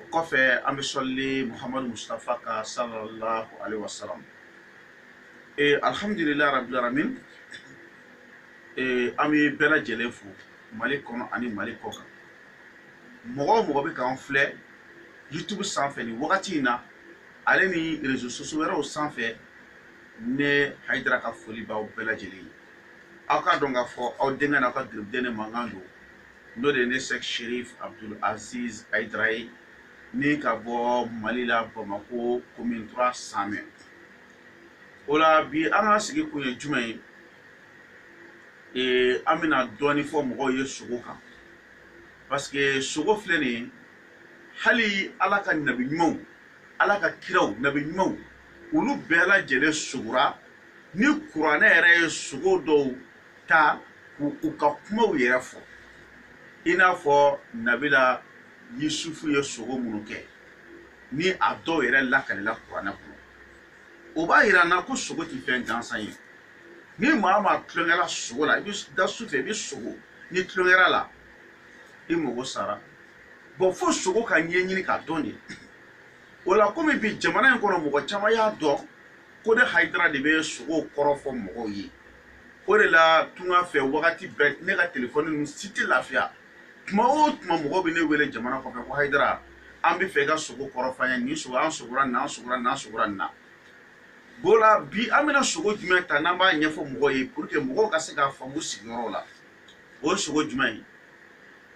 o kɔfɛ an bɛ sɔlili muhamadu mustafa kan sallallahu alaihi wasallam ee alhamdulilayi rabbil alamin ee an bɛ bɛɛ lajɛlen fo mali kɔnɔ ani mali kɔ kan mɔgɔ o mɔgɔ bɛ k'an filɛ youtube sanfɛ nin wagati in na ale ni réseaux sociaux wɛrɛw sanfɛ ne hayidara ka foli b'aw bɛɛ lajɛlen ye aw k'a dɔn k'a fɔ aw denkɛ n'aw ka garibuden ne mankan don n'o de ye ne Sɛki Serif Abudul Aziz Hayidara ye ni ka bɔ Mali la Bamako commune 3 Samɛ o la bi an ka sigi kun ye jumɛn ye ee an bɛna dɔɔni fɔ mɔgɔw ye sogo kan parce que sogo filɛ nin ye hali Ala ka nabi ɲumanw Ala ka kiraw nabi ɲumanw olu bɛɛ lajɛlen sogora ni kuranɛ yɛrɛ ye sogo dɔw ta k'u ka kumaw yɛrɛ fɔ i n'a fɔ nabila yusufu ye sogo minnu kɛ ni a dɔw yɛrɛ lakalila kuranɛ kɔnɔ o b'a yira an na ko sogo tɛ fɛn gansan ye ni maa o maa tulonkɛla sogo la i bɛ da su fɛ i bɛ sogo n'i tulonkɛla a la i mago sara bon fo sogo ka ɲɛɲini k'a dɔn de o la komi bi jamana in kɔnɔ mɔgɔ caman y'a dɔn ko ne hayidara de bɛ sogo kɔrɔ fɔ mɔgɔw ye o de la tunga fɛ wagati bɛɛ ne ka telefɔni ninnu si tɛ lafiya tuma o tuma mɔgɔw bɛ ne wele jamana kɔfɛ ko hayidara an b'a fɛ i ka sogo kɔrɔ fɔ an ye nin sogo an sogora nin na an sogora nin na an sogora nin na o la bi an bɛna sogo jumɛn ta n'an b'a ɲɛfɔ mɔgɔw ye pour que mɔgɔw ka se k'a faamu sigiyɔrɔ la o ye sogo jumɛn ye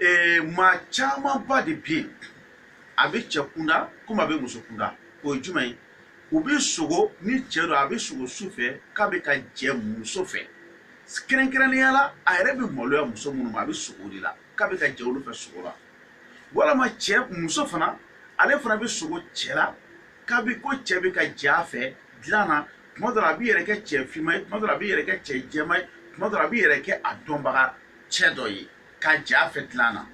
ee maa camanba de bɛ yen a bɛ cɛ kunda komi a bɛ muso kunda o ye jumɛn ye u bɛ sogo ni cɛ don a bɛ sogo su fɛ k'a bɛ ka jɛ muso fɛ kɛrɛnkɛrɛnnenya la a yɛrɛ bɛ maloya muso minnu ma a bɛ sogo de la k'a bɛ ka jɛ olu fɛ sogo la walama cɛ muso fana ale fana bɛ sogo cɛ la k'a bɛ ko cɛ bɛ ka jɛ a fɛ dilan na tuma dɔ la a b'i yɛrɛ kɛ cɛ finman ye tuma dɔ la a b'i yɛrɛ kɛ cɛ jɛman ye tuma dɔ la a b'i yɛrɛ kɛ a dɔnbaga cɛ dɔ ye ka jɛ a fɛ dilan na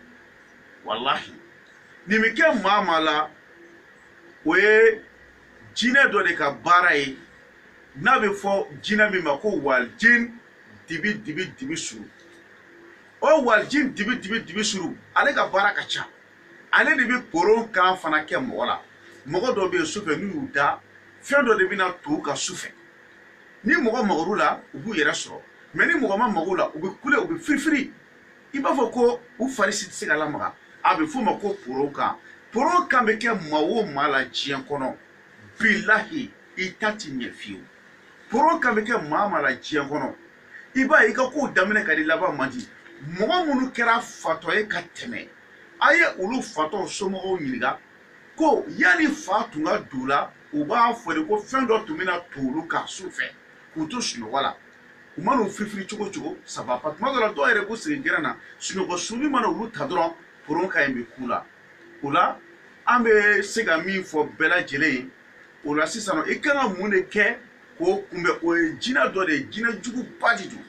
walahi nin bɛ kɛ maa o maa la o ye jinɛ dɔ de ka baara ye n'a bɛ fɔ jinɛ min ma ko walijin dibi dibi dibi suru o walijin dibi dibi dibi suru ale ka baara ka ca ale de bɛ koron kan fana kɛ mɔgɔ la mɔgɔ dɔ bɛ yen sufɛ n'u y'u da fɛn dɔ de bɛna to u kan sufɛ ni mɔgɔ magara u la u b'u yɛrɛ sɔrɔ mais ni mɔgɔ ma maga u la u bɛ kule u bɛ firifiri i b'a fɔ ko u fari si tɛ se ka lamaga a bɛ f'o ma ko poro kan poro kan bɛ kɛ maa o maa la diɲɛ kɔnɔ bilahi i ta tɛ ɲɛ fiyewu poro kan bɛ kɛ maa maa la diɲɛ kɔnɔ i b'a ye i ka kow daminɛ ka di laban man di mɔgɔ minnu kɛra fatɔ ye ka tɛmɛ a ye olu fatɔw somɔgɔw ɲininka ko yanni fa tun ka don u la u b'a fɔ de ko fɛn dɔ tun bɛ na to olu kan su fɛ k'u to sunɔgɔ la u mana u firifiri cogo o cogo saba pa tuma dɔ la dɔw yɛrɛ b'u sigi gɛrɛn na sunɔgɔ sunni mana olu ta dɔrɔn poron ka ɲi bɛ k'u la o la an bɛ se ka min fɔ bɛɛ lajɛlen ye o la sisan i kan ka mun de kɛ k'o kunbɛn o ye jinɛ dɔ de ye jinɛ juguba de don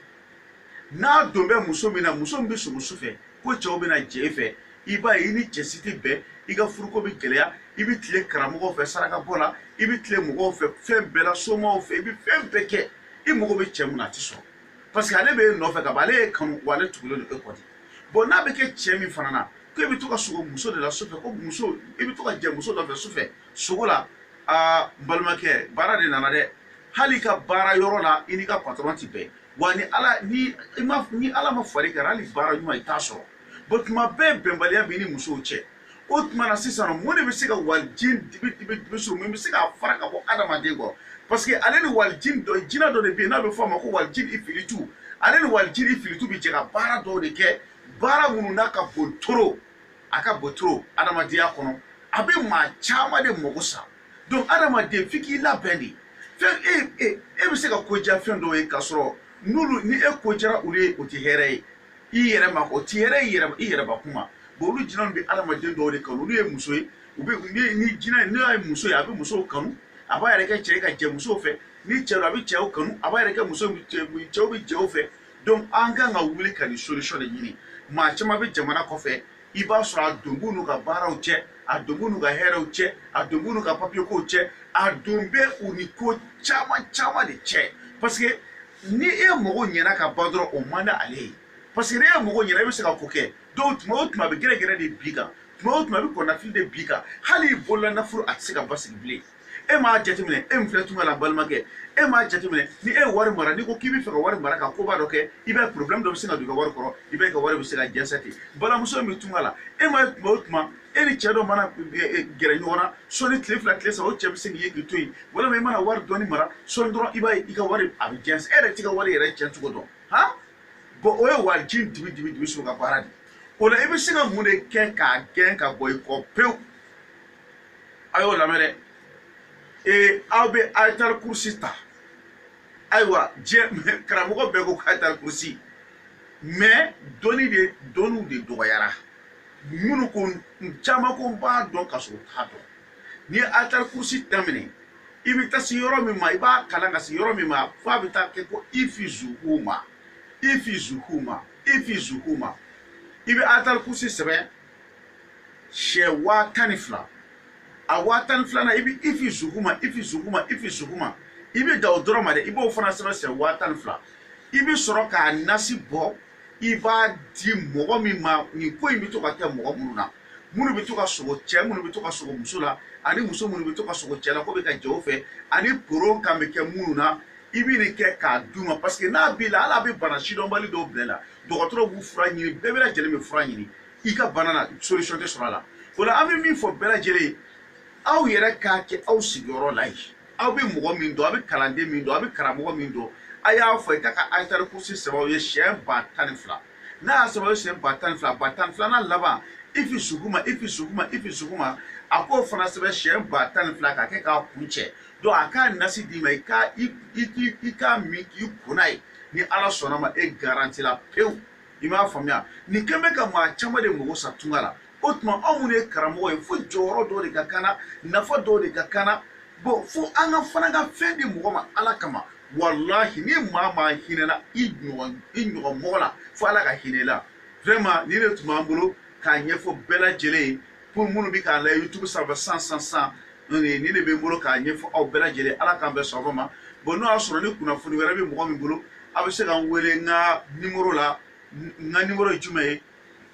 n'a don bɛ muso min na muso min bɛ sogo su fɛ ko cɛw bɛ na jɛ e fɛ i b'a ye i ni cɛ si tɛ bɛn i ka furuko bɛ gɛlɛya i bɛ tile karamɔgɔw fɛ sarakabɔ la i bɛ tile mɔgɔw fɛ fɛn bɛɛ la somaw fɛ i bɛ fɛn bɛɛ kɛ i mago bɛ cɛ min na a tɛ sɔrɔ parce que ale bɛ e nɔfɛ ka ban ale y'e kanu wa ale tugulen don e kɔ de bon n'a bɛ kɛ cɛ min fana na ko e bɛ to ka sogo muso de la sufɛ ko muso i bɛ to ka jɛ muso dɔ fɛ sufɛ sogo la aa n balimakɛ baara de nana dɛ hali i ka baara yɔrɔ la i n'i ka patɔrɔn tɛ bɛn wa ni ala ni i ma ni ala ma far'i kan hali baara ɲuman i t'a sɔrɔ bon tuma bɛɛ bɛnbaliya b'i ni musow cɛ o tuma na sisan mun de bɛ se ka walijini dibi dibi dibi suru mun bɛ se k'a fara ka bɔ adamaden kɔ parce que ale ni walijini dɔ jinɛ dɔ de bɛ yen n'a bɛ fɔ a ma ko walijini ifilitu ale ni walijini ifilitu bɛ jɛ ka baara dɔw de kɛ baara minnu n'a ka bon trop a ka bon trop adamadenya kɔnɔ a bɛ maa caman de mago sa donc adamaden f'i k'i labɛn de fɛn e e e bɛ se ka ko diya fɛn dɔw ye k'a sɔrɔ n'olu ni e ko diyara olu ye o tɛ hɛrɛ ye i yɛrɛ ma o tɛ hɛrɛ ye i yɛrɛ bakun ma bon olu jinɛw bɛ adamaden dɔw de kanu olu ye muso ye u bɛ ni ni jinɛ n'o ye muso ye a bɛ musow kanu a b'a yɛrɛ kɛ cɛ ye ka jɛ musow fɛ ni cɛ don a bɛ cɛw kanu a b'a yɛrɛ kɛ muso cɛw bɛ cɛw fɛ donc an kan ka wuli ka nin solution de ɲini maa caman bɛ jamana kɔfɛ i b'a sɔrɔ a don b'u n'u ka baaraw cɛ a don b'u n'u ka hɛrɛw cɛ a don b'u n'u ka papiyekow cɛ a don bɛ u ni ko caman caman de cɛ parce que ni e mago ɲɛna ka ban dɔrɔn o man di ale ye parce que ni e mago ɲɛna e bɛ se ka ko kɛ donc tuma o tuma a bɛ gɛrɛgɛrɛ de b'i kan tuma o tuma a bɛ kɔnɔnafili de b'i kan hali i bolola nafolo a tɛ se ka basigi bilen e m'a jateminɛ e min filɛ tunga la balimakɛ e m'a jateminɛ ni e ye wari mara n'i ko k'i bɛ fɛ ka wari mara ka koba dɔ kɛ i b'a ye problème dɔ bɛ sin ka don i ka wari kɔrɔ i b'a ye i ka wari bɛ se ka jɛnsɛ ten balimamuso min bɛ tunga la e m'a ye tuma o tuma e ni cɛ dɔ mana e, e, gɛrɛ ɲɔgɔn na sɔɔni tile fila tile saba o cɛ bɛ se k'i ye k'i to yen walima i mana wari dɔɔni mara sɔɔni dɔrɔn i b'a ye i ka wari a bɛ jɛnsɛ e yɛrɛ t'i ka wari yɛrɛ cɛn cogo dɔn han bon o ye walijini dibi dibi dibi so ka baara de ye o la i bɛ se ka mun de kɛ k'a gɛn ka bɔ i kɔ pewu a y'o lamɛn dɛ ee aw bɛ ayatal kursi ta ayiwa diɲɛ karamɔgɔ bɛɛ ko ayatal kursi mais dɔnni de dɔnniw de dɔgɔyara minnu ko caman ko n b'a dɔn ka sɔrɔ u t'a dɔn n'i ye ayatal kursi daminɛ i bɛ taa se yɔrɔ min ma i b'a kalan ka se yɔrɔ min ma f'a bɛ taa kɛ ko hifzuhuma hifzuhuma hifzuhuma i bɛ ayatal kursi sɛbɛn siɲɛ waa tan ni fila a waa tan ni filanan i bɛ hifzuhuma hifzuhuma hifzuhuma i bɛ dan o dɔrɔn ma dɛ i b'o fana sɛbɛn siɲɛ waa tan ni fila i bɛ sɔrɔ k'a nasi bɔ i b'a di mɔgɔ min ma nin ko in bɛ to ka kɛ mɔgɔ minnu na minnu bɛ to ka sogo cɛ minnu bɛ to ka sogo muso la ani muso minnu bɛ to ka sogo cɛ la k'o bɛ ka jɛ o fɛ ani poron kan bɛ kɛ minnu na i bɛ nin kɛ k'a d'u ma parce que n'a b'i la hali a bɛ bana sidɔnbali dɔw bila i la dɔgɔtɔrɔw b'u fura ɲini bɛɛ bɛɛ lajɛlen bɛ fura ɲini i ka bana na solution tɛ sɔrɔ a la o la an bɛ min fɔ bɛɛ lajɛlen ye aw yɛrɛ k'a kɛ aw sigiyɔrɔ la yen aw bɛ mɔgɔ min dɔn aw bɛ kalanden min dɔn aw bɛ karamɔgɔ min dɔn a y'a fɔ i k'a ka ayatal kursi sɛbɛn aw ye siyɛn ba tan ni fila n'a y'a sɛbɛn aw ye siyɛn ba tan ni fila ba tan ni filanan laban hifzuhuma hifzuhuma hifzuhuma a k'o fana sɛbɛn siyɛn ba tan ni fila k'a kɛ k'a kuncɛ donc a k'a nasi d'i ma i k'a i k'a min k'i ko n'a ye ni ala sɔnna ma e garantila pewu i m'a faamuya nin ko in bɛ ka maa caman de mago sa tunga la o tuma anw minnu ye karamɔgɔ ye fo jɔyɔrɔ dɔw de ka kan an na nafa dɔw de ka kan an na bon fo an ka fana ka fɛn di mɔgɔ ma ala kama walahi ni maa maa hinɛna i ɲɔgɔn i ɲɔgɔn mɔgɔ la fo ala ka hinɛ i la vraiment nin de tun b'an bolo k'a ɲɛfɔ bɛɛ lajɛlen ye pour minnu bɛ k'an lajɛ youtube sanfɛ san san san nin de bɛ n bolo k'a ɲɛfɔ aw bɛɛ lajɛlen ala k'an bɛɛ sɔrɔ ma bon n'o y'a sɔrɔ ni kunnafoni wɛrɛ bɛ mɔgɔ min bolo aw bɛ se ka n wele n ka nimoro la n ka nimoro ye jumɛn ye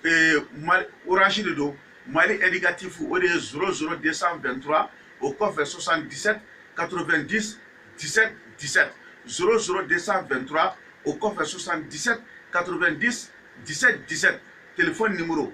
ee mali orange de don mali indicatif o de ye zéro zéro 223 o kɔfɛ 77 90 17 17 zéro zéro 223 o kɔfɛ 77 90 17 17 telefɔni nimoro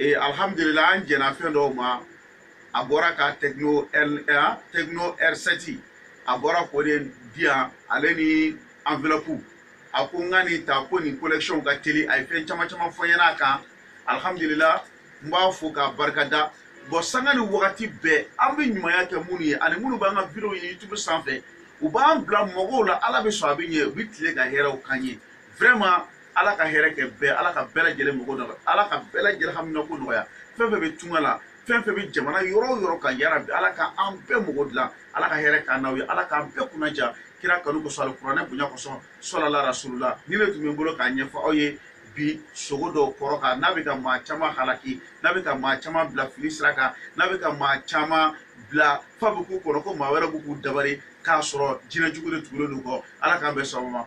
ee alhamdulila an jɛnna fɛn dɔw ma a bɔra ka tecno r tecno r7 a bɔra k'o de di yan ale ni enveloppe a ko n ka nin ta ko nin connexion ka teli a ye fɛn caman caman fɔ n ɲɛna a kan alhamdulila n b'a fo k'a barika da bon sanga ni wagati bɛɛ an bɛ ɲumanya kɛ minnu ye ani minnu b'an ka videow ye youtube sanfɛ u b'an bila mɔgɔw la ala bɛ sɔn a bɛ ɲɛ u bɛ tile ka hɛrɛw k'an ye vraiment ala ka hɛrɛ kɛ bɛɛ ala ka bɛɛ lajɛlen mago nɔgɔya ala ka bɛɛ lajɛlen haminako nɔgɔya fɛn fɛn bɛ tunga la fɛn fɛn bɛ jamana yɔrɔ o yɔrɔ kan yarabi ala ka an bɛɛ mago dilan ala ka hɛrɛ k'an n'aw ye ala k'an bɛɛ kunnaja kira kanu kosɔn alikuranɛ bonya kosɔn sɔlala rasulula nin le tun bɛ n bolo k'a ɲɛfɔ aw ye bi sugo dɔw kɔrɔ kan n'a bɛ ka maa caman halaki n'a bɛ ka maa caman bila fili sira kan n'a bɛ ka maa caman bila f'a bɛ k'u kɔnɔ ko maa wɛrɛ bɛ k'u dabari k'a sɔrɔ jinɛ jugu de tugulen don u kɔ ala k'an bɛɛ sababa